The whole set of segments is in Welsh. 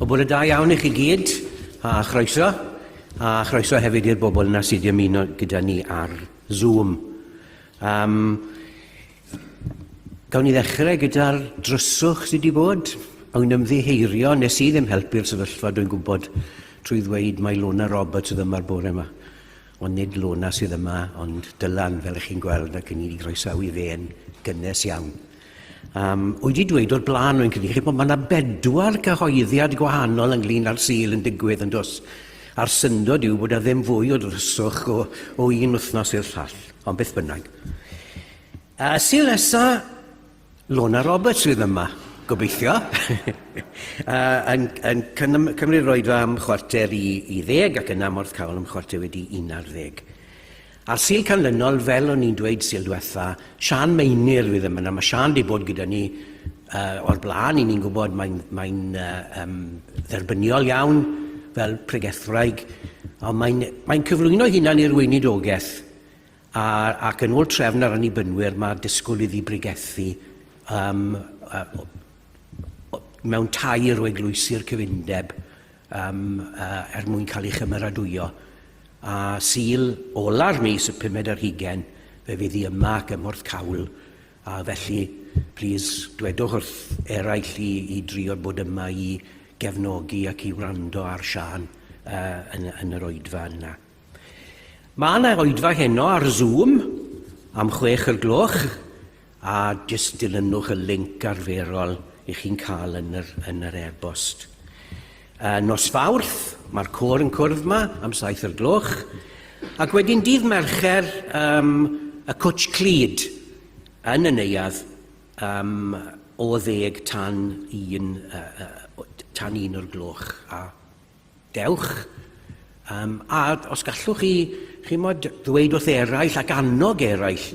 O bod y da iawn i chi gyd, a chroeso, a chroeso hefyd i'r bobl yna sydd wedi ymuno gyda ni ar Zoom. Um, Gawn ni ddechrau gyda'r dryswch sydd wedi bod. Awn ni'n ymddiheirio, nes i ddim helpu'r sefyllfa, dwi'n gwybod, trwy ddweud mae Lona Roberts sydd yma'r bore yma. Ond nid Lona sydd yma, ond Dylan, fel ych chi'n gweld, ac yn i groesawu fe yn gynnes iawn. Um, wedi dweud o'r blaen o'n credu chi bod mae yna bedwar cyhoeddiad gwahanol ynglyn â'r sil yn digwydd yn dos. A'r syndod yw bod yna ddim fwy o ddryswch o, o un wythnos i'r llall. Ond beth bynnag. A sy'n nesa, Lona Roberts fydd yma, gobeithio, a, yn, yn cymryd roed am chwarter i, i ddeg ac yna morth cael am chwarter wedi un ar ddeg. A'r sil canlynol, fel o'n i'n dweud sil diwetha, Sian Meinir fydd yma. Mae Sian wedi bod gyda ni uh, o'r blaen, i ni'n gwybod mae'n mae uh, um, dderbyniol iawn fel pregethwraig, ond mae'n mae cyflwyno hunan i'r weinidogaeth a, ac yn ôl trefn ar annibynnwyr mae disgwyl iddi bregethu um, uh, mewn tair o eglwysi'r cyfundeb um, uh, er mwyn cael ei chymeradwyo. A syl ola'r mis y pumed ar hugen, fe fydd i yma gymorth cawl A felly, plis, dwedwch wrth eraill i i drio bod yma i gefnogi ac i wrando ar Siân yn, yn yr oedfa yna. Mae yna oedfa heno ar Zoom am chwech o'r gloch a jyst dilynwch y link arferol i chi'n cael yn yr, yn yr e-bost. A nos Fawrth, mae'r côr yn cwrdd ma am saith o'r gloch, ac wedyn dydd Mercher, um, y Cwtsh Clyd yn y neuadd um, o ddeg tan un, uh, uh, tan un o'r gloch. A dewch, um, a os gallwch chi, chi mod, ddweud wrth eraill ac annog eraill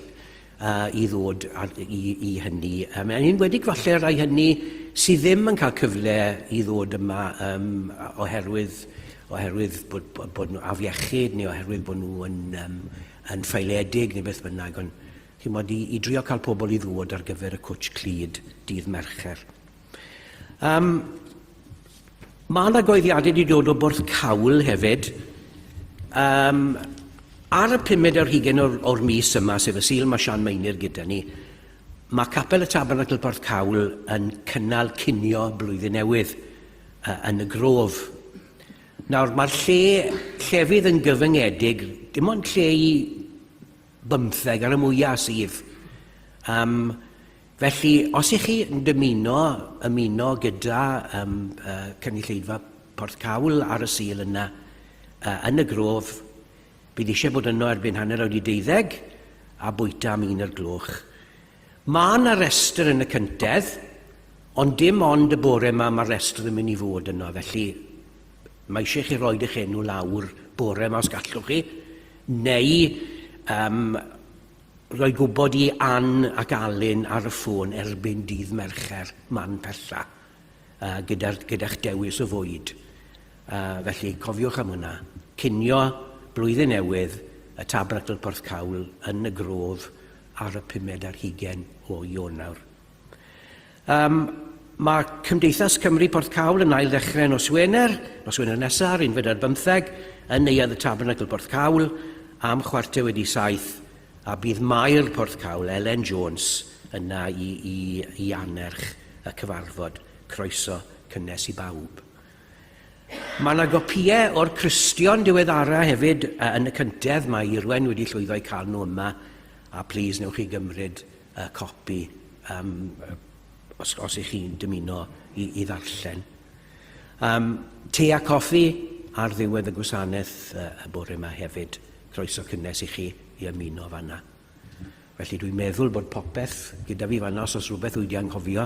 uh, i ddod i, i hynny. Um, yn enwedig falle rai hynny sydd ddim yn cael cyfle i ddod yma um, oherwydd, oherwydd bod, bod, bod nhw afiechyd neu oherwydd bod nhw yn, um, yn ffeiledig neu beth bynnag. Ond chi'n bod i, i drio cael pobl i ddod ar gyfer y cwtch clyd dydd Mercher. Um, Mae yna goeddiadau wedi dod o Bwrdd Cawl hefyd. Um, ar y pumed ar hugen o'r, or mis yma, sef y Sil, mae Sian Meinir gyda ni. Mae Capel y Tabernacl Porth Cawl yn cynnal cinio blwyddyn newydd uh, yn y grof. Nawr, mae'r lle llefydd yn gyfyngedig, dim ond lle i bymtheg ar y mwyaf sydd. Um, felly, os ych chi yn dymuno ymuno gyda um, uh, cynulleidfa Porth Cawl ar y sil yna, uh, yn y grof, bydd eisiau bod yno erbyn hanner awr i deuddeg a bwyta am un o'r gloch. Mae yna restr yn y cyntedd, ond dim ond y bore yma mae'r restr yn mynd i fod yno, felly mae eisiau chi roed eich enw lawr bore yma os gallwch chi, neu um, roi gwybod i Ann ac Alun ar y ffôn erbyn dydd Mercher man pella, uh, gyda'ch gyda dewis o fwyd. Uh, felly, cofiwch am hwnna. Cinio blwyddyn newydd y Tabernacl Porthcawl yn y Grof ar y pumed ar hugen o Ionawr. Um, mae Cymdeithas Cymru Porth Cawl yn ail ddechrau nos Wener, nos Wener nesaf, ar unfed ar bymtheg, yn Neuadd y Tabernacl Porth Cawl, am chwarter wedi saith, a bydd Mair Porth Cawl, Elen Jones, yna i, i, i annerch y cyfarfod. Croeso cynnes i bawb. Mae yna gopïau o'r Cristion diweddara hefyd yn y cyntedd, mae Irwen wedi llwyddo i cael nhw yma, a plis newch chi gymryd y copi um, os, os ych chi'n dymuno i, i ddarllen. Um, te a coffi ar ddiwedd y gwasanaeth uh, y bore yma hefyd. Croeso cynnes i chi i ymuno fanna. Felly dwi'n meddwl bod popeth gyda fi fanna, os oes rhywbeth wedi anghofio,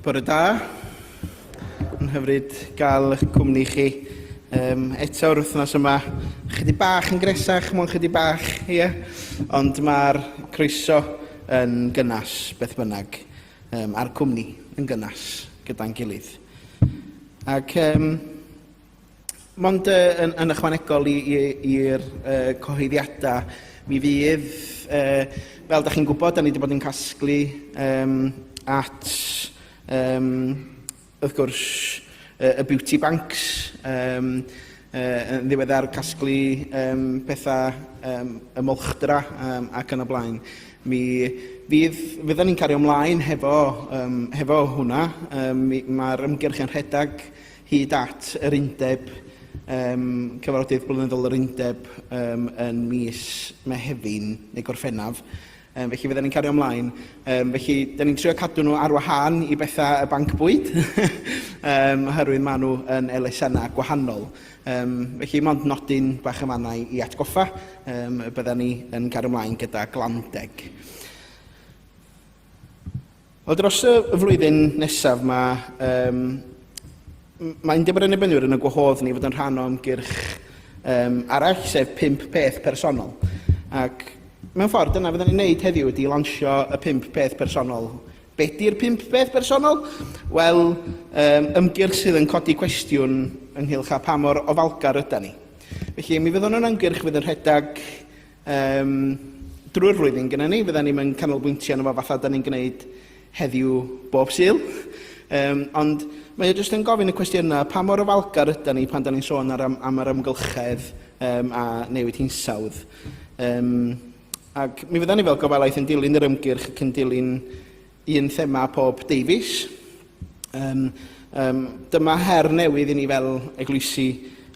Bore da. Yn hyfryd gael eich cwmni chi um, eto o'r wythnos yma. Chydig bach yn gresach, mwyn chydig bach, ie. Yeah. Ond mae'r croeso yn gynnas, beth bynnag. um, a'r cwmni yn gynnas gyda'n gilydd. Ac um, mond uh, yn, yn ychwanegol i'r uh, cyhoeddiadau, mi fydd, uh, fel da chi'n gwybod, da ni wedi bod yn casglu um, at um, Wrth gwrs, y beauty banks, yn ddiweddar casglu pethau y molchdra ac yn y blaen. Mi fydd, fyddan ni'n cario ymlaen hefo, hefo hwnna. Mae'r ymgyrch yn rhedeg hyd at yr undeb, cyfarfodydd blynyddol yr undeb yn mis Mehefin neu Gorffennaf. Yym, felly fydden ni'n cario ymlaen. Yym, felly, da ni'n trio cadw nhw ar wahân i bethau y banc bwyd, um, oherwydd maen nhw yn elusennau gwahanol. Um, felly, mond nodyn bach y mannau i atgoffa, um, bydden ni yn cario ymlaen gyda glandeg. Wel, dros y flwyddyn nesaf mae, um, mae Undeb yr Annibynwyr yn y gwahodd ni fod yn rhan o ymgyrch um, arall, sef pimp peth personol. Ac mewn ffordd, dyna fydden ni'n neud heddiw ydy lansio y pimp peth personol. Be di'r pimp peth personol? Wel, um, ymgyrch sydd yn codi cwestiwn ynghylch a pa mor ofalgar yda ni. Felly, mi fyddwn yn ymgyrch fydd yn rhedeg Yym, drwy'r flwyddyn gyda ni, fydda ni'm yn canolbwyntio arno fo fatha 'dan ni'n gwneud heddiw bob Sul. Yym, ond mae o jyst yn gofyn y cwestiwn yna, pa mor ofalgar ydan ni pan 'dan ni'n sôn ar am am yr amgylchedd yym a newid hinsawdd? Yym, ac mi fyddan ni fel gofalaeth yn dilyn yr ymgyrch ac yn dilyn un thema pob deufis. Um, um, dyma her newydd i ni fel eglwysi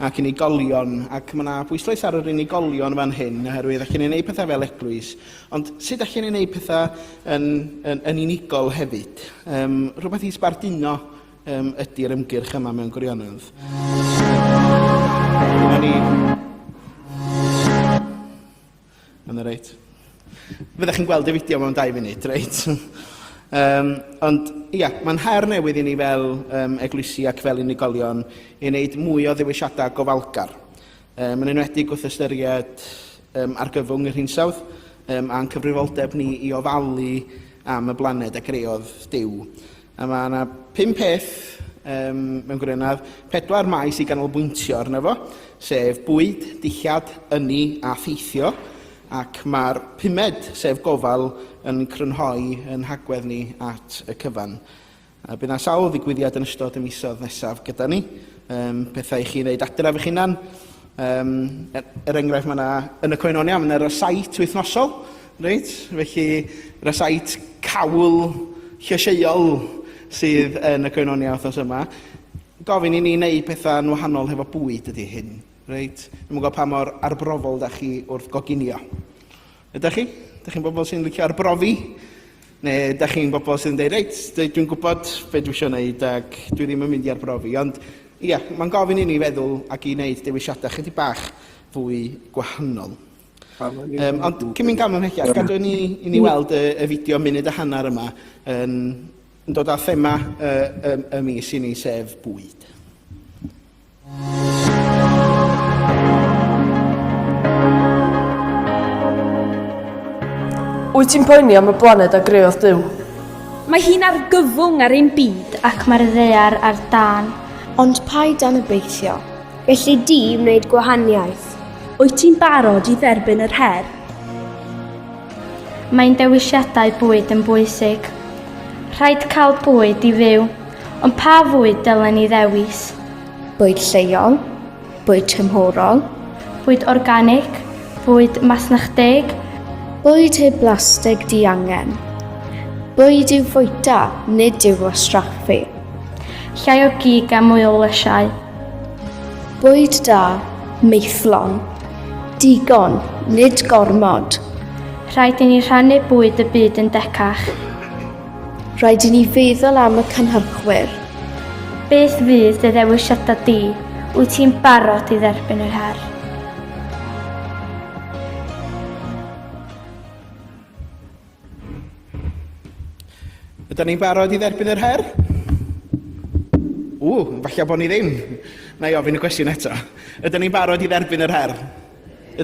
ac unigolion, ac mae yna bwyslais ar yr unigolion fan hyn, oherwydd allan ni'n gwneud pethau fel eglwys, ond sut allan ni'n gwneud pethau yn, yn, yn unigol hefyd? Um, rhywbeth i sbarduno um, ydy'r ymgyrch yma mewn gwirionedd. Dyna ni. Mae'n reit. Fyddech chi'n gweld y fideo mewn dau funud, reit? um, ond, ia, mae'n her newydd i ni fel um, eglwysi ac fel unigolion i wneud mwy o ddewisiadau gofalgar. Um, yn enwedig wrth ystyried um, argyfwng yr hinsawdd um, a'n cyfrifoldeb ni i ofalu am y blaned a greodd Dyw. A mae yna pum peth um, mewn gwirionedd, pedwar maes i ganolbwyntio arno fo, sef bwyd, dillad, ynni a theithio, ac mae'r pumed, sef gofal, yn crynhoi yn hagwedd ni at y cyfan. A bydd yna sawl ddigwyddiad yn ystod y misodd nesaf gyda ni, um, pethau i chi wneud adref eich hunan. Um, er, er enghraifft, mae yna, yn y coenonia, mae yna sait wythnosol, Reit, felly yna sait cawl llysieuol sydd yn y Koinonia wythnos yma. Gofyn i ni wneud pethau'n wahanol hefo bwyd ydy hyn, reit? Ddim yn gwybod pa mor arbrofol da chi wrth goginio. Ydych chi? Ydych chi'n bobl sy'n licio arbrofi? Neu ydych chi'n bobl sy'n dweud, reit, dwi'n gwybod beth dwi eisiau gwneud ac dwi ddim yn mynd i arbrofi. Ond ie, mae'n gofyn i ni feddwl ac i wneud dewisiadau chydig bach fwy gwahanol. Um, ond cyn mynd gan ymhechiad, gadw ni, i ni weld y, y fideo munud a hanner yma yn, yn dod â thema y, y, y mis i ni, sef bwyd. Wyt ti'n poeni am y blaned a greodd Dyw? Mae hi'n argyfwng ar ein byd ac mae'r ddear ar dan. Ond paid dan y beithio, Gelli di wneud gwahaniaeth. Wyt ti'n barod i dderbyn yr her? Mae'n dewisiadau bwyd yn bwysig. Rhaid cael bwyd i fyw, ond pa fwyd dylen ni ddewis? Bwyd lleol, bwyd tymhorol. Bwyd organig, bwyd masnachdeg. Bwyd heb blastig diangen. Bwyd i'w fwyta, nid i'w wastraffu. Llai o gig a mwy o lysiau. Bwyd da, maethlon. Digon, nid gormod. Rhaid i ni rhannu bwyd y byd yn decach. Rhaid i ni feddwl am y cynhyrchwyr. Beth fydd dy ddewisiadau di? Wyt ti'n barod i dderbyn yr her? Ydyn ni'n barod i dderbyn yr her? Ww, falle bod ni ddim. Na i ofyn y cwestiwn eto. Ydyn ni'n barod i dderbyn yr her?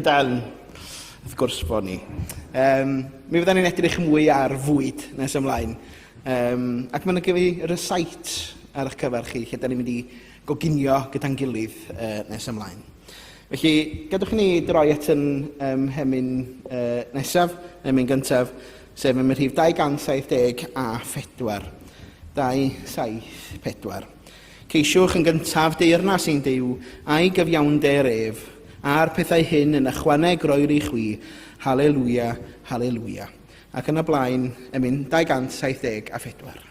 Ydyn. Wrth gwrs bod ni. Um, mi fydden ni'n edrych mwy ar fwyd nes ymlaen. Um, ac mae'n gyfi rysait ar eich cyfer chi, lle da ni'n mynd i goginio gyda'n gilydd uh, nes ymlaen. Felly, gadewch i ni droi at yn mhemyn nesaf, emyn gyntaf, sef emyn rhif 274. 274. Ceisiwch yn gyntaf deyrnas i'n Duw a'i gyfiawnder ef, a'r pethau hyn yn ychwaneg roir i chwi, Haleluia, Haleluia. Ac yn y blaen, emyn 274.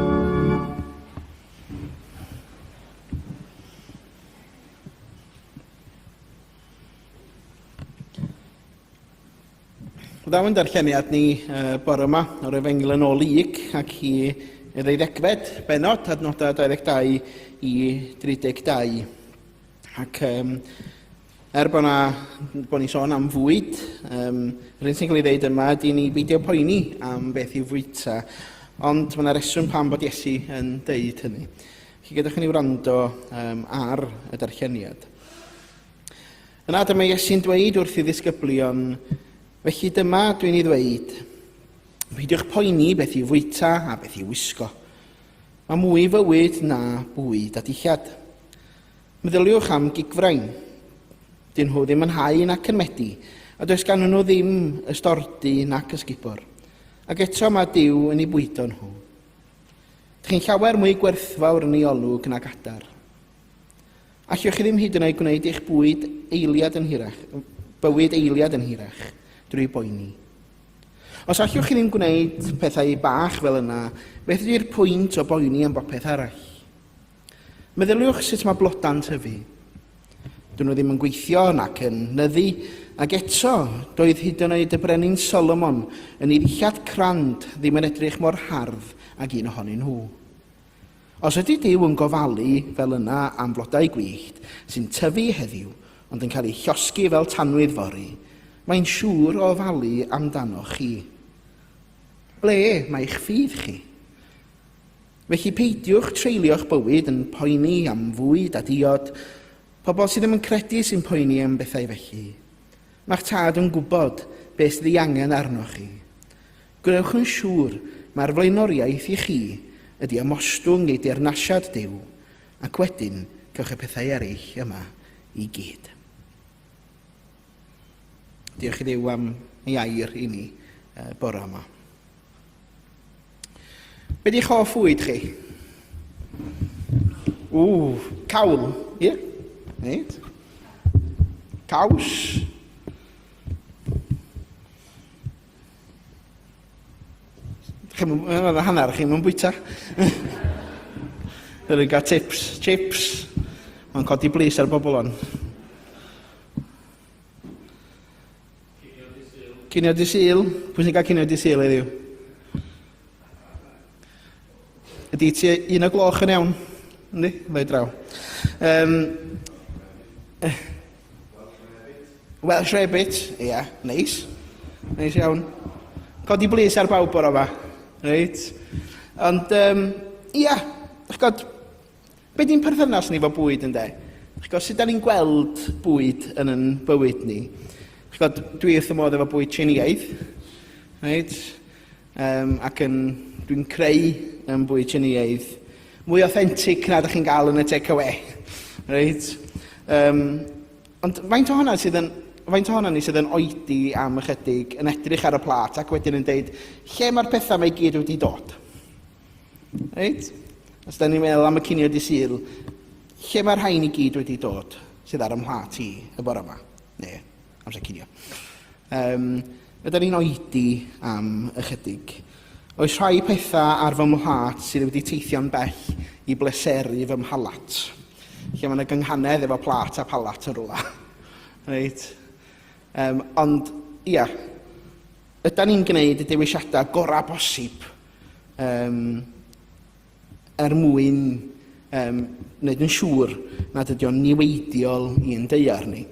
Ddaw yn darlleniad ni uh, bore yma o'r efengyl yn ôl Lyg ac i ddeuddegfed benod adnodau 22 i 32. Ac um, Er bod na, bod ni'n sôn am fwyd, um, yr un sy'n cael ei ddeud yma ydy ni beidio poeni am beth i'w fwyta, ond mae yna reswm pam bod Iesu yn deud hynny. Chi gyda chi'n ei wrando um, ar y darlleniad. Yna dyma Iesu'n dweud wrth i ddisgyblion, felly dyma dwi'n ei ddweud, peidiwch poeni beth i'w fwyta a beth i'w wisgo. Mae mwy fywyd na bwyd a dillad. Meddyliwch am gigfrain. Dyn nhw ddim yn hau nac yn medi, a does ganddyn nhw ddim ystordy nac ysgubor. Ac eto mae Dyw yn ei bwydo nhw. Dych chi'n llawer mwy gwerthfawr yn ei olwg nag adar. Allwch chi ddim hyd yn oed gwneud eich bwyd eiliad yn hirach, bywyd eiliad yn hirach drwy boeni. Os allwch chi ddim gwneud pethau bach fel yna, beth ydy'r pwynt o boeni am bopeth arall? Meddyliwch sut mae blodau'n tyfu. Dyn nhw ddim yn gweithio nac yn nyddu, ac eto, doedd hyd yn oed y brenin Solomon yn ei ddillad crand ddim yn edrych mor hardd ag un ohonyn nhw. Os ydy Dyw yn gofalu fel yna am flodau gwyllt sy'n tyfu heddiw ond yn cael eu llosgi fel tanwydd fory, mae'n siŵr o ofalu amdanoch chi. Ble mae'ch ffydd chi? Felly peidiwch treulio'ch bywyd yn poeni am fwyd a diod, pobl sydd ddim yn credu sy'n poeni am bethau felly. Mae'ch Tad yn gwybod beth sydd ei angen arnoch chi. Gwnewch yn siŵr mai'r flaenoriaeth i chi ydi ymostwng ei deyrnasiad Duw, ac wedyn cewch y pethau eraill yma i gyd. Diolch i Dduw am ei air i ni bora yma. Be di'ch hoff fwyd chi? Ww, cawl, ie? Yeah. Nid. Caws. Chi'n mynd hanner, chi'n mynd bwyta. Yr yn gael tips, chips. Mae'n codi blis ar bobl o'n. Cinio di Sul. Pwy sy'n cael cinio di Sul heddiw? Ydy ti un o gloch yn iawn? Yndi? Fe draw. Um, Welsh Rabbit. Ie, yeah, neis. Neis iawn. Codi blis ar bawb o'r yma. Reit. Ond, um, ia, yeah, chgod, Be di'n perthynas ni fo bwyd ynde? Chi'n gwybod, sut da ni'n gweld bwyd yn yn bywyd ni? Chi'n gwybod, dwi wrth y modd efo bwyd Tsieineaidd, right? um, ac yn, dwi'n creu yn bwyd Tsieineaidd mwy authentic na da chi'n gael yn y take-away. Right? Um, ond faint o honna sydd yn faint ohono ni sydd yn oedi am ychydig, yn edrych ar y plat ac wedyn yn dweud lle mae'r pethau mae i gyd wedi dod. Reit? Os da ni'n meddwl am y cinio di syl, lle mae'r rhain i gyd wedi dod sydd ar ymhla ti y bore yma? Ne, amser cinio. Um, ydyn ni'n oedi am ychydig. Oes rhai pethau ar fy mhlat sydd wedi teithio'n bell i bleseru fy mhalat? Lle mae'n y gynghanedd efo plat a palat yn rhywle. Reit? Um, ond, ia, ydyn ni'n gwneud y dewisiadau gorau bosib um, er mwyn um, wneud yn siŵr nad ydy o'n niweidiol i'n deiar ni.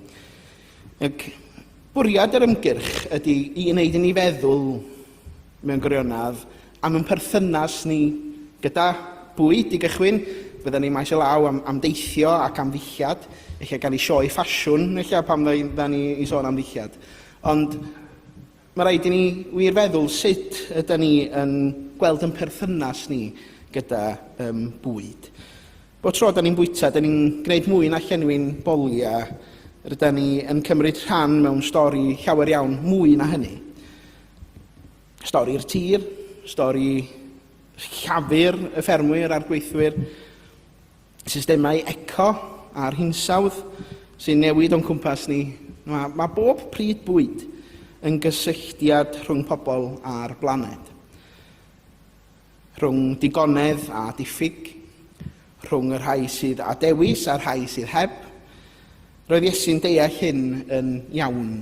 Ac bwriad yr ymgyrch ydy i wneud i ni feddwl mewn gwirionedd am yn perthynas ni gyda bwyd i gychwyn. Fydden ni maes o law am, am deithio ac am ddillad, eich gael ei sioe ffasiwn, eich pan fydden ni i sôn am ddillad. Ond Mae rhaid i ni wir feddwl sut ydyn ni yn gweld yn perthynas ni gyda um, bwyd. Bo tro da ni'n bwyta, da ni'n gwneud mwy na llenwi'n bolia, rydyn ni yn cymryd rhan mewn stori llawer iawn mwy na hynny. Stori'r tir, stori llafur y ffermwyr a'r gweithwyr, Systemau eco a'r hinsawdd sy'n newid o'n cwmpas ni. Mae, mae bob pryd bwyd yn gysylltiad rhwng pobl a'r blaned. Rhwng digonedd a diffyg, rhwng y rhai sydd â dewis a'r rhai sydd heb. Roedd Iesu'n deall hyn yn iawn.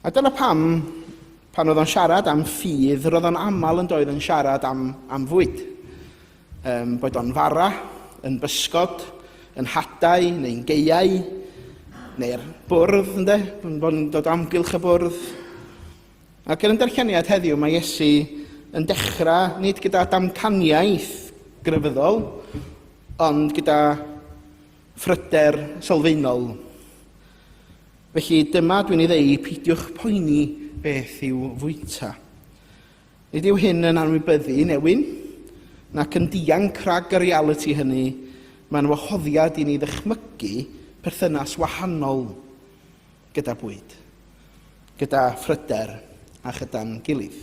A dyna pam, pan oedd o'n siarad am ffydd, roedd o'n aml yn doedd yn siarad am, am fwyd. Ym boed o'n fara, yn bysgod, yn hadau neu'n geiau, neu'r bwrdd, ynde, yn bod yn dod amgylch y bwrdd. Ac yn y darlleniad heddiw mae Iesu yn dechrau nid gyda damcaniaeth grefyddol, ond gyda phryder sylfaenol. Felly dyma dwi'n ei ddeu, peidiwch poeni beth i'w fwyta. Nid yw hyn yn anwybyddu newyn, nac yn dianc rhag y realiti hynny, mae'n wahoddiad i ni ddychmygu perthynas wahanol gyda bwyd, gyda phryder a chyda'n gilydd.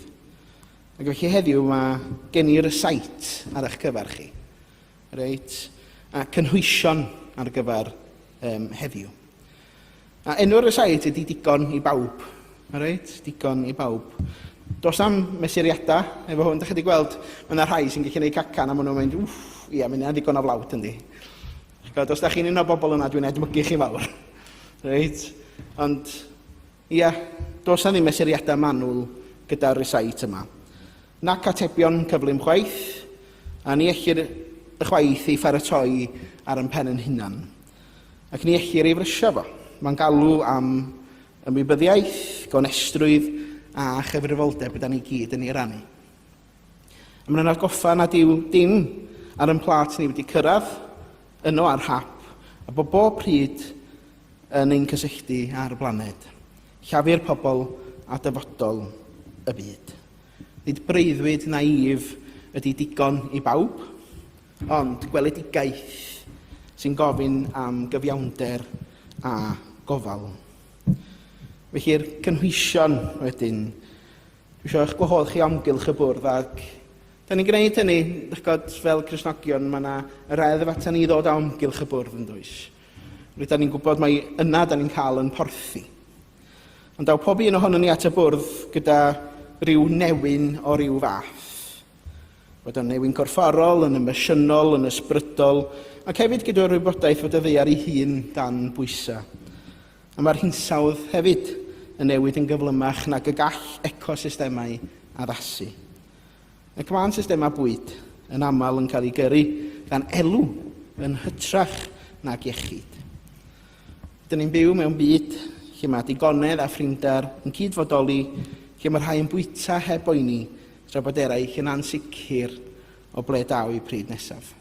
Ac felly heddiw mae gen i rysáit ar eich cyfer chi, reit, a cynhwysion ar gyfer um, heddiw. A enw'r resiaid ydy digon i bawb. Alright, digon i bawb. Dos am mesuriadau efo hwn, da chi wedi gweld, mae yna rhai sy'n gallu gwneud cacan a maen nhw'n mynd, wff, ia, mae yna ddigon o flawd yndi. God, os da chi'n un o'r bobl yna, dwi'n edmygu chi fawr. Reit? Ond, ia, dos na ddim mesuriadau manwl gyda'r resight yma. Nac atebion cyflym chwaith, a ni ellir y chwaith ei pharatoi ar yn pen yn hunan. ac ni ellir ei frysio fo. Mae'n galw am ymwybyddiaeth, gonestrwydd a chyfrifoldeb yda ni gyd yn ei rannu. A mae'n atgoffa nad yw dim ar yn plat ni wedi cyrraedd yno ar hap a bod bob pryd yn ein cysylltu ar y blaned. Llafur pobl a dyfodol y byd. Nid breuddwyd naïf ydy digon i bawb, Ond gweledigaeth sy'n gofyn am gyfiawnder a gofal. Felly'r cynhwysion wedyn, dwi eisiau eich gwahodd chi amgylch y bwrdd ac da ni'n gwneud hynny, ych god, fel Cresnogion, mae yna yr eddf atan ni ddod amgylch y bwrdd yn dwys. Rydyn ni'n gwybod mae yna da ni'n cael yn porthi. Ond daw pob un ohono ni at y bwrdd gyda rhyw newyn o ryw fath. Fod yn newyn gorfforol, yn emosiynol, yn ysbrydol, ac hefyd gyda'r wybodaeth fod y ddaear ei hun dan bwysau. A mae'r hinsawdd hefyd yn newid yn gyflymach nag y gall ecosystemau addasu. Ac mae'n systemau bwyd yn aml yn cael ei gyrru gan elw yn hytrach nag iechyd. Dyn ni'n byw mewn byd lle mae digonedd a phrinder yn cyd-fodoli, lle mae rhai yn bwyta heb boeni Tra bod eraill yn ansicr o ble daw eu pryd nesaf.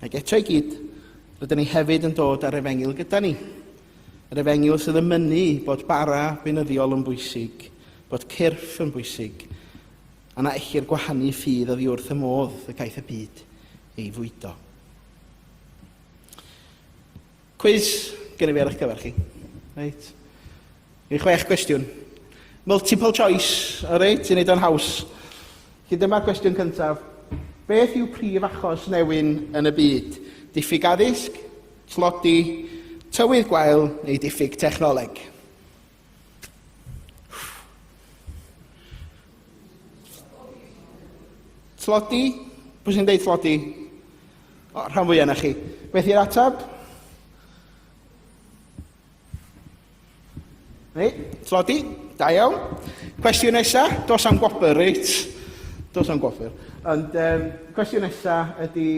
Ac eto i gyd, rydyn ni hefyd yn dod ar efengyl gyda ni. Yr efengyl sydd yn mynnu bod bara beinyddiol yn bwysig, bod cyrff yn bwysig, a na ellir gwahanu ffydd oddi wrth y modd y caiff y byd ei fwydo. Cwis genna fi ar eich cyfer chi. Reit. Rhyw chwech gwestiwn. Multiple choice, o reit, i wneud o'n haws. Felly dyma gwestiwn cyntaf. Beth yw prif achos newyn yn y byd? Diffyg addysg, tlodi, tywydd gwael neu diffyg technoleg? Tlodi? Pwy sy'n deud tlodi? O, rhan fwy yna chi. Beth i'r ateb? Reit, tlodi? Da iawn. Cwestiwn nesaf, dos am gwobr, reit? Dos am gwobr. Ond um, cwestiwn nesaf ydy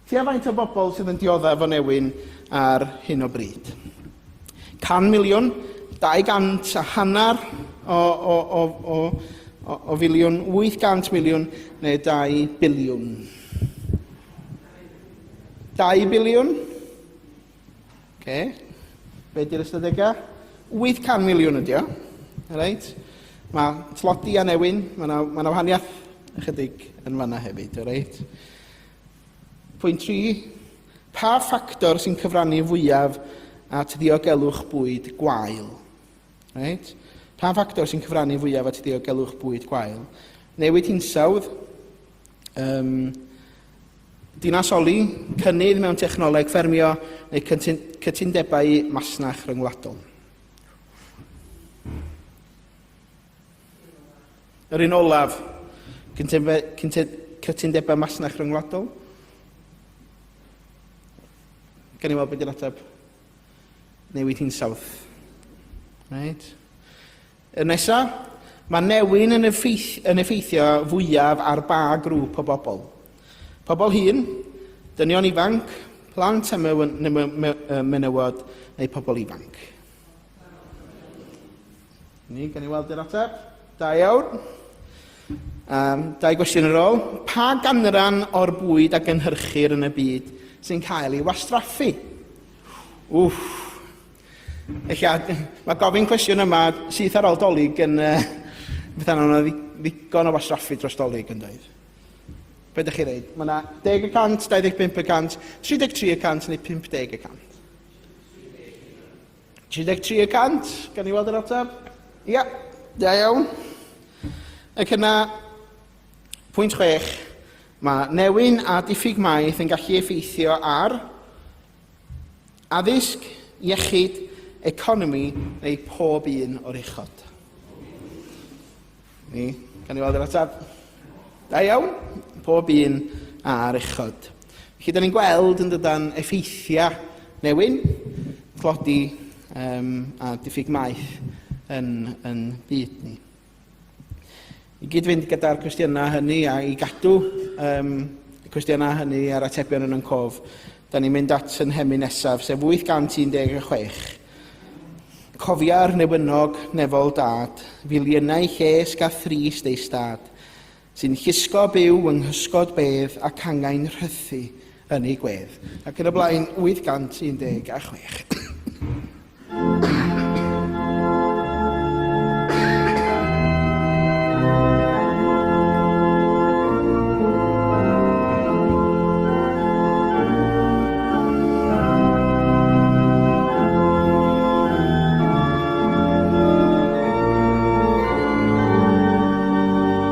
Tua faint o bobl sydd yn dioddef o newyn ar hyn o bryd? 100 miliwn, 200 a hanner o, o, o, o, o, o filiwn, 800 miliwn neu 2 biliwn? 2 biliwn? Oce. Be di'r ystadegau? 800 miliwn ydi o. Alright? Mae tlodi a newyn, mae yna ma wahaniaeth ychydig yn fanna hefyd, alright? Pwynt 3. Pa ffactor sy'n cyfrannu fwyaf at ddiogelwch bwyd gwael? Right? Pa ffactor sy'n cyfrannu fwyaf at ddiogelwch bwyd gwael? Newid hinsawdd, um, dinasoli, cynnydd mewn technoleg ffermio neu cytundebau masnach rhyngwladol. Yr un olaf, cytundebau masnach rhyngwladol. Gan i weld beth yw'r ateb newid hinsawdd. Right. Y nesa, mae newyn yn, effeith, yn effeithio fwyaf ar ba grŵp o bobl. Pobl hyn, dynion ifanc, plant a menywod neu pobl ifanc. Ni, gan i weld yr ateb. Da iawn. Um, dau gwestiwn ar ôl. Pa ganran o'r bwyd a gynhyrchir yn y byd sy'n cael ei wastraffu? Wff. Eich mae gofyn cwestiwn yma syth ar ôl dolyg yn... Uh, Beth yna, yna ddigon o wasraffu dros dolyg yn dweud. Be ydych chi'n dweud? Mae yna 10 y cant, 25 y cant, 33 y cant neu 50 y cant. 33 y cant, gan i weld yr ateb. Ia, da iawn. Ac yna, pwynt chwech, mae newyn a diffyg maeth yn gallu effeithio ar addysg, iechyd, economi neu pob un o'r uchod. Ni, gan ni weld yr ateb. Da iawn, pob un ar uchod. Felly, da ni'n gweld yn dydan effeithiau newyn, tlodi um, a diffyg maeth yn, yn byd ni. I gyd-fynd gyda'r cwestiynau hynny a i gadw um, y cwestiynau hynny a'r atebion yn yn cof, da ni'n mynd at yn hemi nesaf, sef 816. Cofia'r newynog nefol dad, filiynau llesg a thrist ei stad, sy'n llusgo byw yng nghysgod bedd ac angain rhythu, Ynni gwedd. Ac yn y blaen, 816.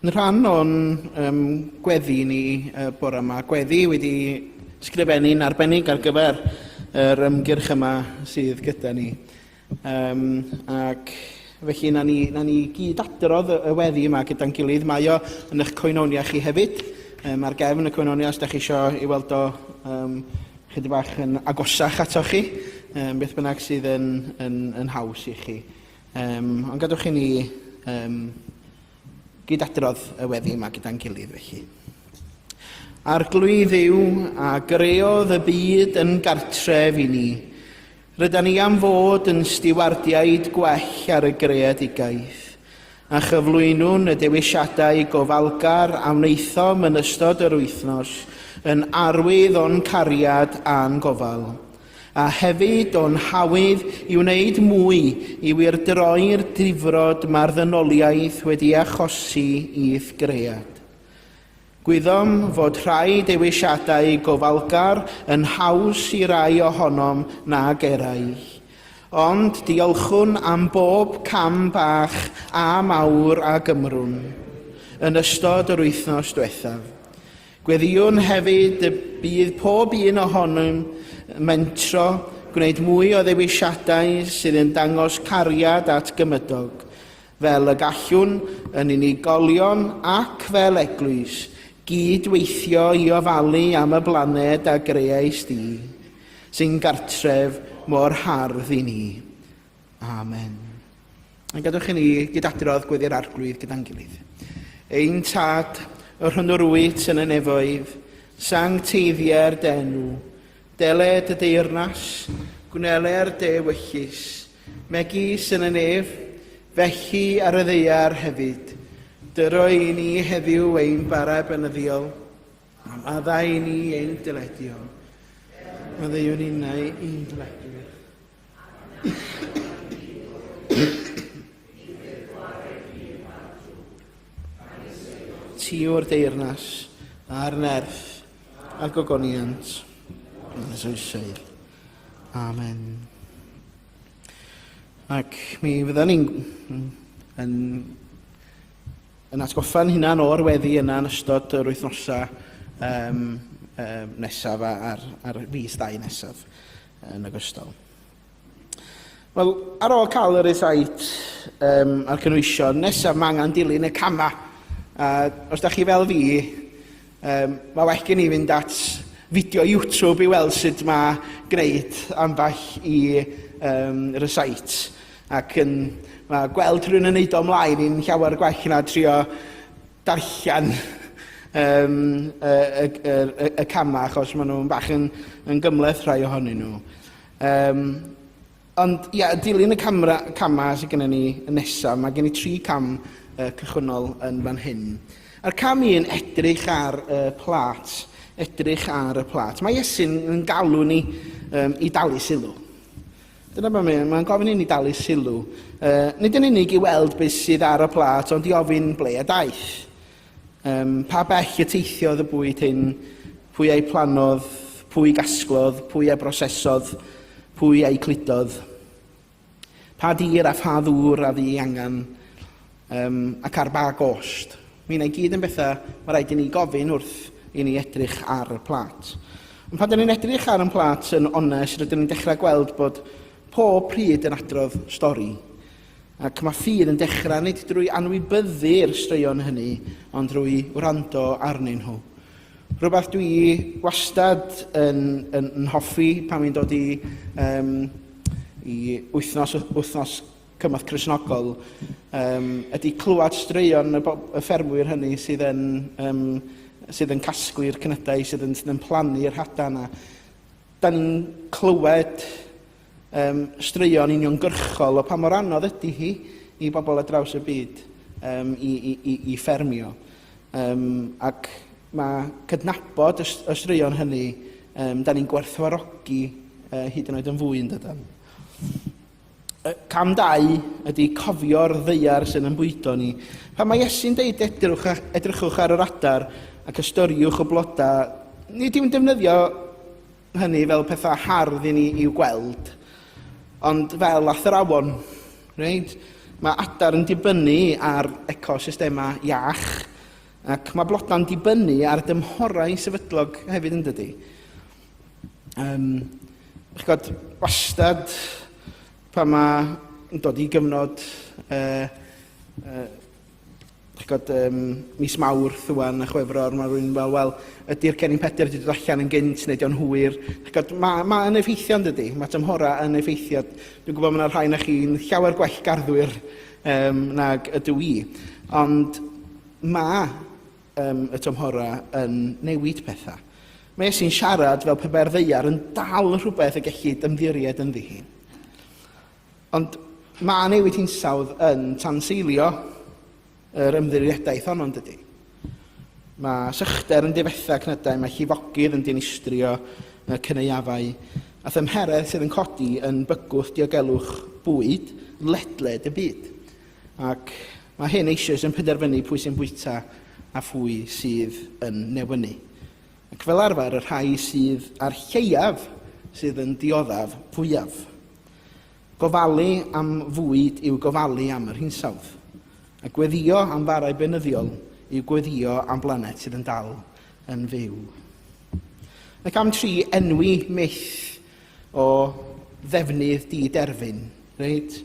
Yn rhan o'n um, gweddi ni uh, bore yma, gweddi wedi sgrifennu'n arbennig ar gyfer yr ymgyrch yma sydd gyda ni. Um, ac felly na ni, na ni gyd adrodd y weddi yma gyda'n gilydd. Mae o yn eich coenonia chi hefyd, um, ar gefn y coenonia os da chi eisiau ei weld o um, chydig bach yn agosach ato chi, um, beth bynnag sydd yn, yn, yn haws i chi. Um, ond gadwch i ni um, gyd adrodd y weddi yma gyda'n gilydd felly. Arglwydd yw a greodd y byd yn gartref i ni. Ryda ni am fod yn stiwardiaid gwell ar y greadigaeth a chyflwynwn y dewisiadau gofalgar a wnaethom yn ystod yr wythnos yn arwydd o'n cariad a'n gofal. a hefyd o'n hawydd i wneud mwy i wyrdroi'r difrod mae'r ddynoliaeth wedi achosi i ithgread. Gwyddom fod rhai dewisiadau gofalgar yn haws i rai ohonom nag eraill, ond diolchwn am bob cam bach a mawr a gymrwn yn ystod yr wythnos diwethaf. Gweddïwn hefyd y bydd pob un ohonom yn mentro gwneud mwy o ddewisiadau sydd yn dangos cariad at gymydog, fel y gallwn, yn unigolion ac fel Eglwys, gyd-weithio i ofalu am y blaned a greais di, sy'n gartref mor hardd i ni. Amen. Yn gadwch i ni gydadrodd gweddi'r arglwydd gyda'n gilydd. Ein tad, yr hwnnw rwyt yn y nefoedd, sancteiddiau'r denw, dele dy deyrnas, gwneler de wellus, megis yn y nef, felly ar y ddeiar hefyd. Dyro i ni heddiw ein bara benyddiol, am addau i ni ein dyledio. Maddeuwn innau i'n dyledwyr, Ti o'r deyrnas a'r nerth a gogoniant yn y soesoedd. Amen. Ac mi fydda ni'n yn, yn atgoffa'n hunan o'r weddi yna yn ystod yr wythnosau um, um, nesaf a'r, a'r fus dau nesaf. yn ogystal. Wel, ar ôl cael yr eithait um, a'r cynwysion, nesaf mae angen dilyn y camau. A os da chi fel fi, um, mae well gen i fynd at fideo YouTube i weld sut mae gwneud ambell i um, recite. Ac yn, mae gweld rhywun yn neud o ymlaen i'n llawer gwell na trio darllen um, y, y, y, y camau achos maen nhw'n bach yn, yn gymleth rhai ohonyn nhw. Um, ond ia, dilyn y camera, camau sydd gennym ni yn nesaf, mae gen i tri cam uh, cychwynnol yn fan hyn. A'r cam un, edrych ar y uh, plat. Edrych ar y plat. Mae Iesu'n galw ni um, i dalu sylw. Dyna beth mae'n mae gofyn i ni dalu sylw, uh, nid yn unig i weld beth sydd ar y plat, ond i ofyn ble a daeth. Um, pa bell y teithiodd y bwyd hyn, pwy a'i planodd, pwy gasglodd, pwy a brosesodd, pwy a'i cludodd. Pa dir a pha ddŵr a fu angen, Yym, ac ar ba gost? Mae hynna i gyd yn bethau mae rhaid i ni gofyn wrth i ni edrych ar y plât. Ond pan 'da ni'n edrych ar yn plât yn onest, rydyn ni'n dechrau gweld bod pob pryd yn adrodd stori. Ac mae ffydd yn dechrau nid drwy anwybyddu'r straeon hynny, ond drwy wrando arnyn nhw. Rhywbeth dwi wastad yn, yn, yn hoffi pan fi'n dod i, um, i wythnos, wythnos cymorth Cristnogol um, ydy clywed straeon y, y ffermwyr hynny sydd yn, um, sydd yn casglu'r cnydau, sydd yn, sydd yn plannu'r hada yna. Da ni'n clywed um, straeon uniongyrchol o pa mor anodd ydy hi i bobl ar draws y byd um, i, i, i, i ffermio. Um, ac mae cydnabod y, y straeon hynny, um, da ni'n gwerthfarogi uh, hyd yn oed yn fwy yn dydan. Cam dau ydy cofio'r ddaear sydd yn bwydo ni. Pan mae Iesu'n deud edrych, edrychwch ar yr adar ac ystyriwch y blodau, nid yw'n defnyddio hynny fel pethau hardd i ni i'w gweld, ond fel athrawon. Right? Mae adar yn dibynnu ar ecosystemau iach ac mae blodau'n dibynnu ar dymhorau sefydlog hefyd yn dydy. Um, chi'n gwybod, wastad pan mae'n dod i gyfnod uh, uh, chi'n gwybod, um, mis mawrth ywan a chwefror, mae rhywun fel, wel, ydy'r Cennin Pedr wedi dod allan yn gynt neu di'n hwyr. Chod, mae, mae yn effeithio yn dydy, mae tymhora yn effeithio. Dwi'n gwybod mae yna rhai na chi'n llawer gwell garddwyr um, nag ydw i. Ond mae um, y tymhorau yn newid pethau. Mae Iesu'n siarad fel pe bai'r ddeiar yn dal rhywbeth y gellid ymddiried ynddi hi. Ond mae newid hinsawdd yn tanseilio yr ymddirieddaeth honno'n dydy. Mae sychder yn difetha cnydau, mae llifogydd yn dinistrio y cyneuafau, a thymheredd sydd yn codi yn bygwth diogelwch bwyd ledled y byd. Ac Mae hyn eisoes yn penderfynu pwy sy'n bwyta a phwy sydd yn newynu. Ac fel arfer, y rhai sydd â'r lleiaf sydd yn dioddef fwyaf. Gofalu am fwyd yw gofalu am yr hinsawdd, a gweddïo am farau beunyddiol yw gweddïo am blaned sydd yn dal yn fyw. Ac am tri enwi myth o ddefnydd di-derfyn, reit?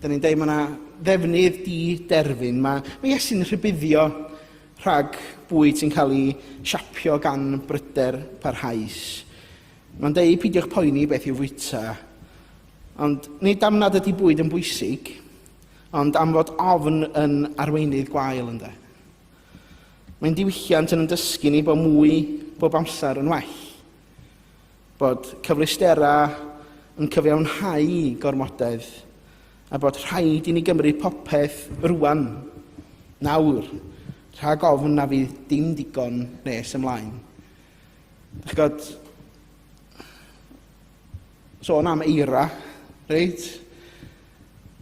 Da ni'n deud mae yna ddefnydd di-derfyn. Mae, mae Iesu'n rhybuddio rhag bwyd sy'n cael ei siapio gan bryder parhaus. Mae'n deud peidiwch poeni beth i'w fwyta. Ond nid am nad ydy bwyd yn bwysig, ond am fod ofn yn arweinydd gwael ynddo. Mae'n diwylliant yn ymdysgu ni bod mwy bob amser yn well. Bod cyfleusterau yn cyfiawnhau gormodedd a bod rhaid i ni gymryd popeth rwan, nawr, rhag ofn na fydd dim digon nes ymlaen. Ych god, sôn am eira, reit?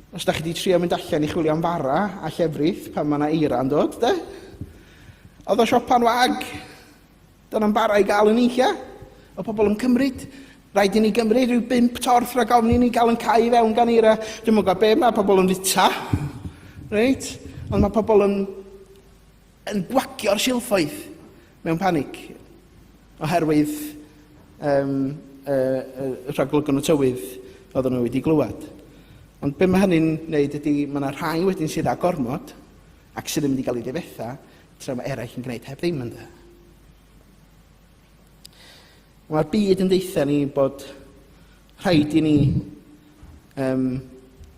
Os da chi wedi trio mynd allan i chwilio am fara a llefrith pan mae yna eira yn dod, de? Oedd o siopa'n wag! Dod â'n bara i gael y nunlla o bobl yn cymryd. Rhaid i ni gymryd rhyw bump torth rhag ofn i ni gael yn cau i fewn gan eira. Dwi'n mwyn gwybod be mae pobl yn fita. Reit? Ond mae pobl yn, yn gwagio'r silffoedd mewn panig oherwydd um, y, y, y rhaglygwn y tywydd oedden nhw wedi glywed. Ond be mae hynny'n wneud ydy, mae yna rhai wedyn sydd â gormod, Ac sydd ddim wedi cael ei ddifetha tra mae eraill yn gwneud heb ddim ynddo. Mae'r byd yn deitha ni bod rhaid i ni um,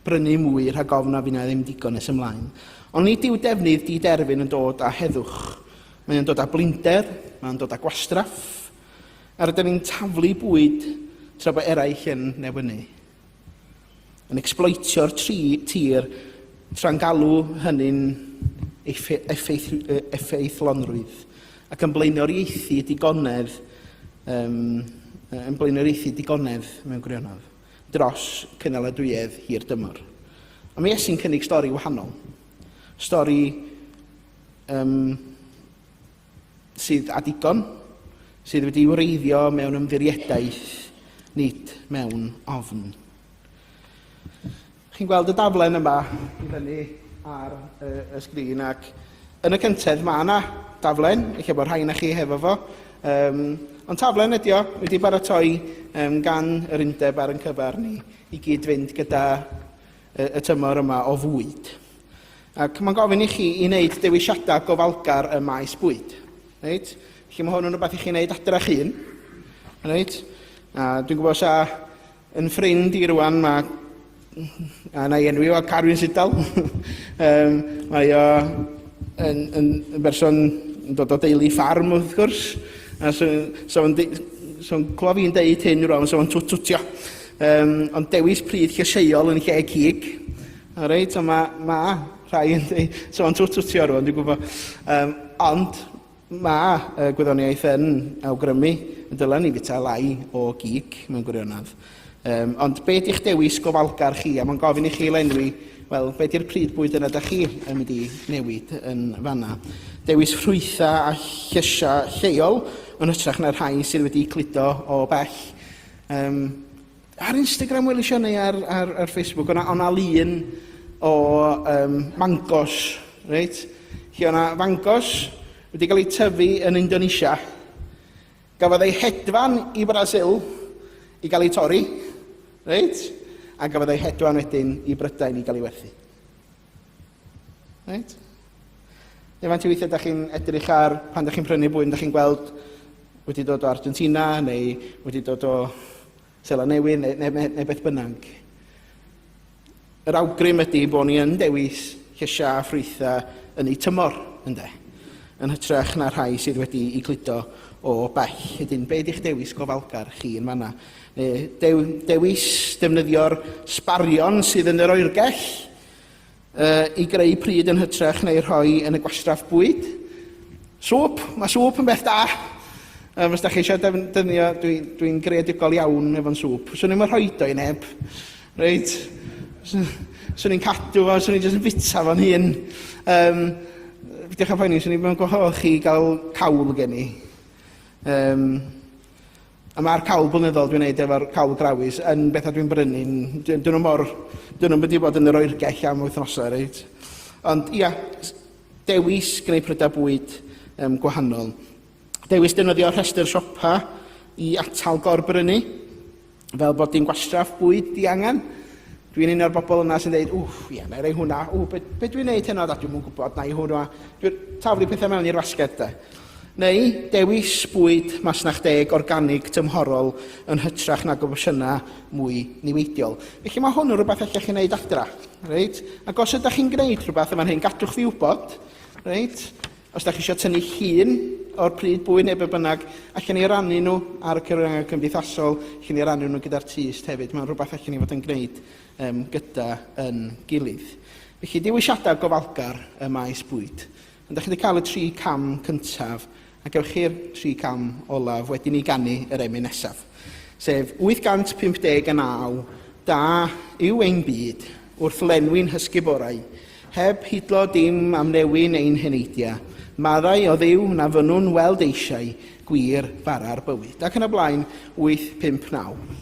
brynu mwy rhag ofn a fyna ddim digon nes ymlaen. Ond nid yw defnydd di-derfyn yn dod â heddwch. Mae'n dod â blinder, mae'n dod â gwastraff, a rydyn ni'n taflu bwyd tra bod eraill yn newynu. yn ecsbloetio'r tri tir tra'n galw hynny'n effaith, effeithlonrwydd ac yn blaenoriaethu digonedd um, yn blaenoriaethu digonedd mewn gwirionedd dros cynaladwyedd hir dymor. A mae Iesu'n cynnig stori wahanol. Stori um, sydd â digon, sydd wedi'i wreiddio mewn ymddiriedaeth, nid mewn ofn. Chi'n gweld y daflen yma i fyny ar y, y sgrin ac yn y cyntedd mae yna daflen, eich bod rhai na chi hefo fo, um, ond taflen ydy o, wedi baratoi um, gan yr undeb ar yn cyfer ni i gyd-fynd gyda y, y tymor yma o fwyd. Ac mae'n gofyn i chi i wneud dewisiadau gofalgar ym maes bwyd. Reit? Felly mae hwn yn rhywbeth i chi wneud adrach un. Reit? A dwi'n gwybod sa yn ffrind i rwan mae a na i enwi o Carwyn Sidal. um, mae o yn, yn, yn berson yn dod o deulu ffarm wrth gwrs. A so, so, so clywed fi'n deud hyn rwan, so o'n twtwtio. Um, ond dewis pryd llysieuol yn lle cig. O reit, o mae ma rhai yn ei sôn twt twtio rwan, dwi'n gwybod. Um, ond mae y gwyddoniaeth yn awgrymu y dylen ni fita lai o gig mewn gwirionedd. Um, ond be di'ch dewis gofalgar chi? A mae'n gofyn i chi lenwi, wel, be di'r pryd bwyd yna da chi yn mynd i newid yn fanna? Dewis ffrwytha a llesia lleol yn hytrach na'r rhai sydd wedi cludo o bell. Um, Ar Instagram welis i o neu ar, ar, ar Facebook, o'na, o'na lun o um, mangos, reit? Lle o'na fangos wedi cael eu tyfu yn Indonesia. Gafodd ei hedfan i Brasil i gael ei torri, reit? A gafodd ei hedfan wedyn i Brydain i gael ei werthu. Right? Neu faint o weithiau ydych chi'n edrych ar pan ydych chi'n prynu bwyd, ydych chi'n gweld wedi dod o Argentina neu wedi dod o Sela Newydd neu, neu, neu, neu beth bynnag. Yr awgrym ydy bod ni yn dewis lleisiau a ffrwythau yn eu tymor, ynddo? yn hytrach na rhai sydd wedi i gludo o bell. Ydyn, be ydych dewis gofalgar chi yn fanna? dewis defnyddio'r sbarion sydd yn yr oergell i greu pryd yn hytrach neu rhoi yn y gwastraff bwyd. Sŵp, mae sŵp yn beth da. Um, os da chi eisiau defnyddio, dwi'n dwi, dwi greadigol iawn efo'n sŵp. Swn i'n rhoi do i neb. Reit? Swn i'n cadw fo, swn i'n jyst yn bita fo'n hun. Um, Diolch am poeni, swn i'n gwahodd chi gael cawl gen i. Um, A mae'r cawl blynyddol dwi'n neud efo'r cawl grawys yn bethau dwi'n brynu'n... Dyn nhw mor... Dyn nhw'n mynd i fod yn yr oergell am wythnosau, reit? Ond ia, dewis gwneud prydau bwyd um, gwahanol. Dewis defnyddio rhestr siopa i atal gorbrynu, fel bod dim gwastraff bwyd diangen. Dwi'n un o'r bobl yna sy'n dweud, wff, ie, na i roi hwnna, ww, be, be dwi'n neud heno, da, dwi'm yn gwybod, na i hwnna. Dwi'n taflu pethau mewn i'r fasged, de. Neu dewis bwyd masnach deg organig tymhorol yn hytrach nag opsiynau mwy niweidiol. Felly mae hwn yn rhywbeth allech chi wneud adra. Reit? Ac os ydych chi'n gwneud rhywbeth yn fan hyn, gadwch fi wybod. Reit? Os da chi eisiau tynnu llun o'r pryd bwyd neu be bynnag, allan ni rannu nhw ar y cyfryngau cymdeithasol, allan ni rannu nhw gyda'r tyst hefyd. Mae'n rhywbeth allan ni fod yn gwneud um, gyda yn gilydd. Felly, dewisiadau gofalgar y maes bwyd. Ond da chi wedi cael y tri cam cyntaf, a gewch chi'r tri cam olaf wedi ni gannu yr emyn nesaf. Sef 859, da yw ein byd, Wrth lenwi'n hysgub orau, heb hidlo dim am newyn ein heneidia, maddau o Dduw na fynnwn weld eisiau gwir bara'r bywyd. Ac yn y blaen, 8, 5, 9.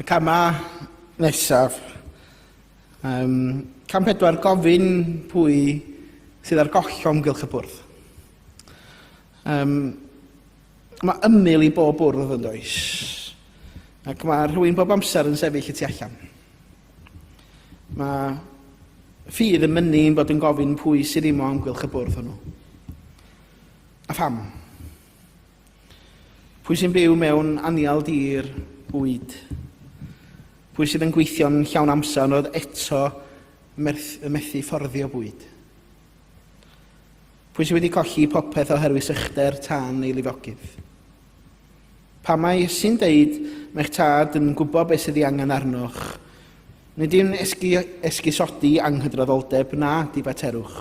Y camau nesaf. Um, cam pedwar, gofyn pwy sydd ar goll o ymgylch y bwrdd. Um, Mae ymyl i bob bwrdd yn does, ac mae rhywun bob amser yn sefyll y tu allan. Mae ffydd yn mynnu yn bod yn gofyn pwy sydd ddim o amgylch y bwrdd hwnnw. A pham? Pwy sy'n byw mewn anial dir bwyd? Pwy sydd yn gweithio'n llawn amser ond oedd eto methu fforddio bwyd? Pwy sydd wedi colli popeth oherwydd sychder tan ei lifogydd? Pam mae Iesu'n deud, mae'ch Tad yn gwybod beth sydd ei angen arnoch? Nid yw'n esgu, esgusodi anghydraddoldeb na difaterwch.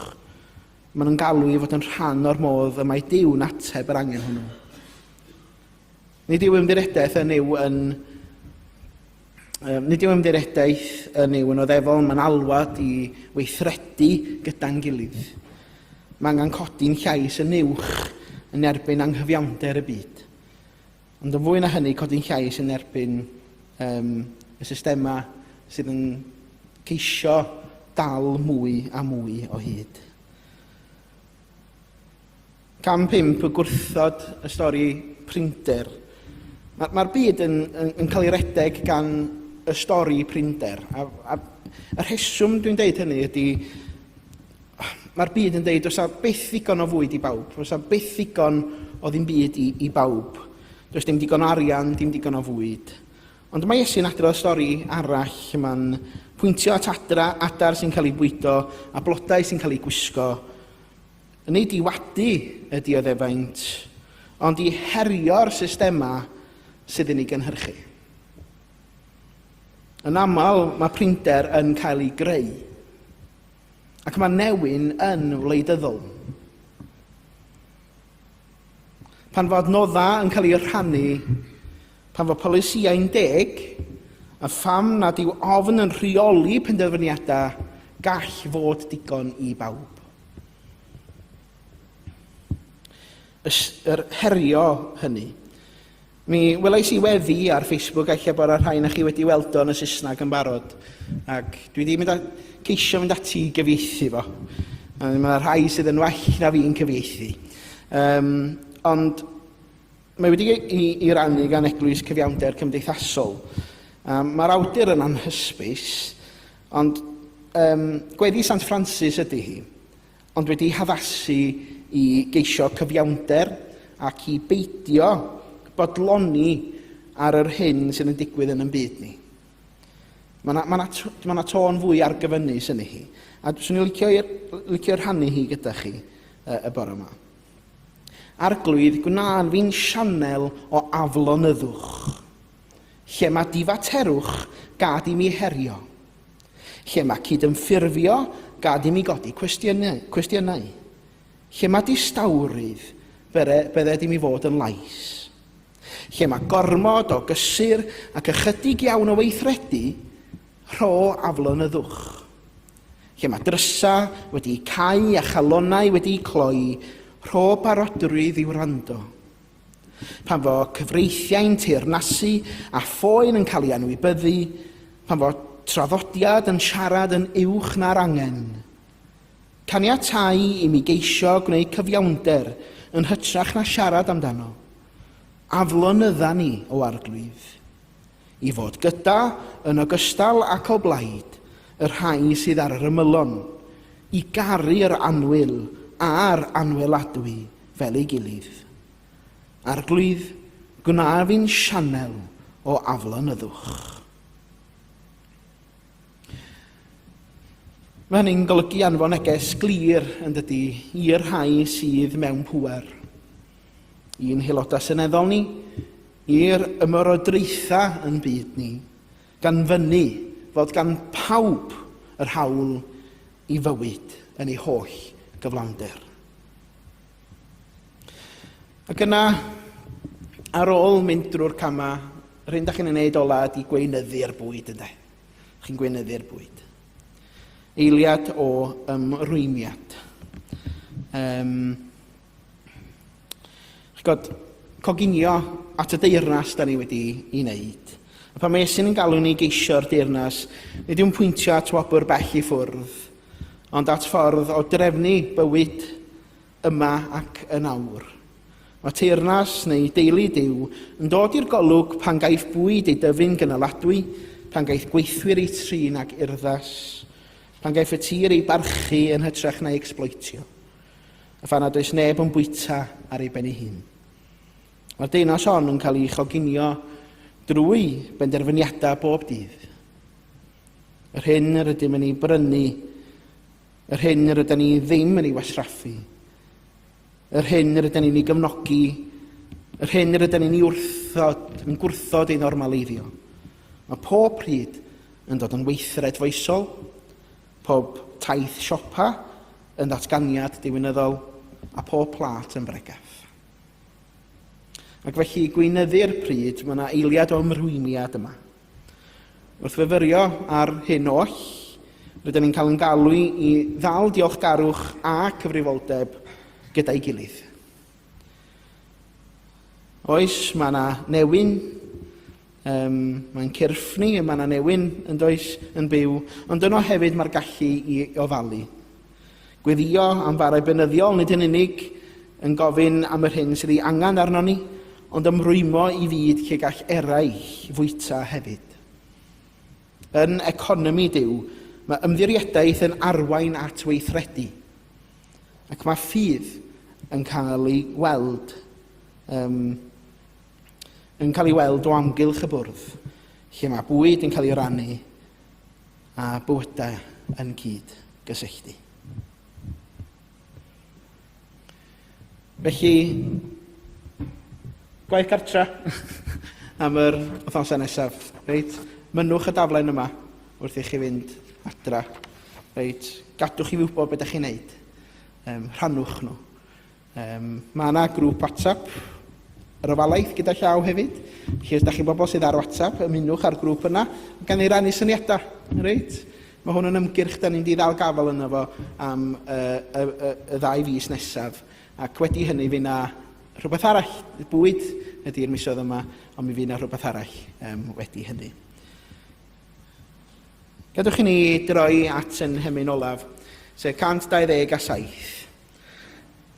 Mae'n yn galw i fod yn rhan o'r modd y mae Duw'n ateb yr angen hwnnw. Nid yw ymddiredaeth yn yw yn nid yw ymddiredaeth yn yw yn oddefol, mae'n alwad i weithredu gyda'n gilydd. Mae angen codi'n llais yn uwch yn erbyn anghyfiawnder y byd. Ond yn fwy na hynny, codi'n llais yn erbyn um, y systemau sydd yn ceisio dal mwy a mwy o hyd. Cam 5, y gwrthod y stori prinder. Mae'r ma byd yn, yn, yn cael ei redeg gan y stori prinder. A, a y rheswm dwi'n deud hynny ydy, mae'r byd yn deud, oes byth ddigon o fwyd i bawb, oes byth ddigon o ddim byd i, i bawb. Does dim digon o arian, dim digon o fwyd. Ond mae Iesu'n adrodd stori arall lle mae'n pwyntio at adra, adar sy'n cael ei bwydo a blodau sy'n cael ei gwisgo. Nid i wadu y dioddefaint, ond i herio'r systemau sydd yn ei gynhyrchu. Yn aml, mae prinder yn cael ei greu, ac mae newyn yn wleidyddol. Pan fod noddau yn cael ei rhannu, pan fod polisïau'n deg, a pham nad yw ofn yn rheoli penderfyniadau, gall fod digon i bawb. yr herio hynny. Mi welais i weddi ar Facebook, a lle bod y rhai na chi wedi weld o'n y Saesneg yn barod, ac dwi wedi mynd a, ceisio mynd ati i gyfieithu fo. Mae yna rhai sydd yn well na fi'n cyfieithu. Um, ond Mae wedi ei rannu gan Eglwys Cyfiawnder Cymdeithasol. Um, Mae'r awdur yn anhysbys, ond um, gweddi Sant Francis ydy hi, ond wedi haddasu i geisio cyfiawnder ac i beidio bodloni ar yr hyn sydd yn digwydd yn ymbyd ni. Mae yna ma ma ma tôn fwy argyfynus yn hi. A swn i'n licio, licio rhannu hi gyda chi uh, y bore yma. Arglwydd, gwna'n fi'n sianel o aflonyddwch. Lle mae difaterwch, gad i mi herio. Lle mae cydymffurfio, gad i mi godi cwestiynau. cwestiynau. Lle mae distawrwydd, bydde i mi fod yn lais. Lle mae gormod o gysur ac ychydig iawn o weithredu, rho aflonyddwch. lle mae drysau wedi'u cau a chalonnau wedi'u cloi, rho barodrwydd i wrando. Pan fo cyfreithiau'n teyrnasu a phoen yn cael ei anwybyddu, pan fo traddodiad yn siarad yn uwch na'r angen. Caniatau i mi geisio gwneud cyfiawnder yn hytrach na siarad amdano. Aflonydda ni o arglwydd. I fod gyda, yn ogystal ac o blaid, y rhai sydd ar yr ymylon, i garu yr annwyl a'r anweladwy fel ei gilydd. Arglwydd, gwna fi'n sianel o aflonyddwch. Mae hynny'n golygu anfon neges glir yn dydy i'r rhai sydd mewn pŵer. I'n haelodau seneddol ni, i'r ymerodraethau yn byd ni, gan fyny fod gan pawb yr hawl i fywyd yn ei holl gyflawnder. Ac yna, ar ôl mynd drwy'r camau, yr hyn da chi'n ei wneud ola ydy gweinyddu'r bwyd, ynddo. Chi'n gweinyddu'r bwyd. Eiliad o ymrwymiad. Um, Chi'n gwybod, coginio at y deyrnas da ni wedi ei wneud. A pan mae Iesu'n yn galw ni geisio'r deyrnas, nid yw'n pwyntio at wobr bell i ffwrdd, ond at ffordd o drefnu bywyd yma ac yn awr. Mae teyrnas neu deulu Duw yn dod i'r golwg pan gaiff bwyd ei dyfu'n gynaladwy, pan gaiff gweithwyr eu trin ag urddas, pan gaiff y tir ei barchu yn hytrach na'i ecsbloetio, a phan nad oes neb yn bwyta ar ei ben ei hun. Mae'r deunos hon yn cael ei choginio drwy benderfyniadau bob dydd. Yr hyn yr ydym yn ei brynu, yr hyn yr ydym ni ddim yn ei wasraffu, yr hyn yr ydym ni'n ei gefnogi, yr hyn yr ydym ni'n ei wrthod, yn gwrthod ei normaleiddio. Mae pob pryd yn dod yn weithred foesol, pob taith siopa yn ddatganiad diwinyddol a pob plat yn bregeth. Ac felly gweinyddu'r pryd, mae yna eiliad o ymrwymiad yma. Wrth fyfyrio ar hyn oll, rydyn ni'n cael yn galw i ddal diolchgarwch a cyfrifoldeb gyda'i gilydd. Oes, mae yna newyn, um, mae'n cyrffni, mae yna newyn yn does yn byw, ond yno hefyd mae'r gallu i ofalu. Gweddïo am farau beunyddiol nid yn unig yn gofyn am yr hyn sydd ei angen arnon ni, ond ymrwymo i fyd lle gall eraill fwyta hefyd. Yn economi Duw, mae ymddiriedaeth yn arwain at weithredu, ac mae ffydd yn cael ei weld um, yn cael ei weld o amgylch y bwrdd, lle mae bwyd yn cael ei rannu a bywydau yn cyd gysylltu. Felly, gwaith cartra am yr wythnosau nesaf. Reit, mynnwch y daflen yma wrth i chi fynd adra. Reit, gadwch i fi wybod beth ydych chi'n neud. Um, rhannwch nhw. Yym, mae yna grŵp WhatsApp yr ofalaeth gyda llaw hefyd. Felly, os da chi'n bobl sydd ar WhatsApp, ymunwch â'r grŵp yna, gan ei rannu syniadau. Reit? Mae hwn yn ymgyrch da ni'n diddal gafel yna fo am y, y, y, y ddau fus nesaf. Ac wedi hynny, fi na rhywbeth arall. Bwyd ydy'r misoedd yma, ond mi fi na rhywbeth arall um, wedi hynny. Gadwch i ni droi at yn hymyn olaf, sef 127.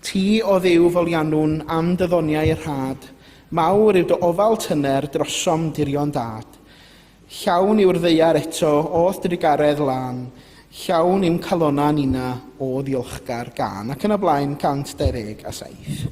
Ti, o Dduw, folianwn am dy ddoniau y rhad, mawr yw dy ofal tyner drosom dirion dad. Llawn yw'r ddaear eto o'th drugaredd lân, llawn i'm calonna ninna o ddiolchgar gân. Ac yn y blaen, 127.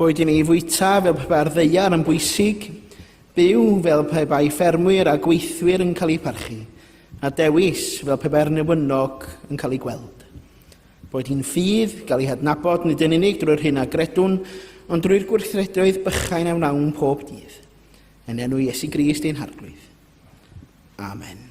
Boed i ni fwyta fel pe bai'r ddeiar yn bwysig, byw fel pe bai ffermwyr a gweithwyr yn cael eu parchu, a dewis fel pe bai'r newynog yn cael ei gweld. Boed hi'n ffydd, gael ei hadnabod nid yn unig drwy'r hyn a gredwn, ond drwy'r gwrthredoedd bychain a wnawn pob dydd. Yn enw Iesu Grist ein Harglwydd. Amen.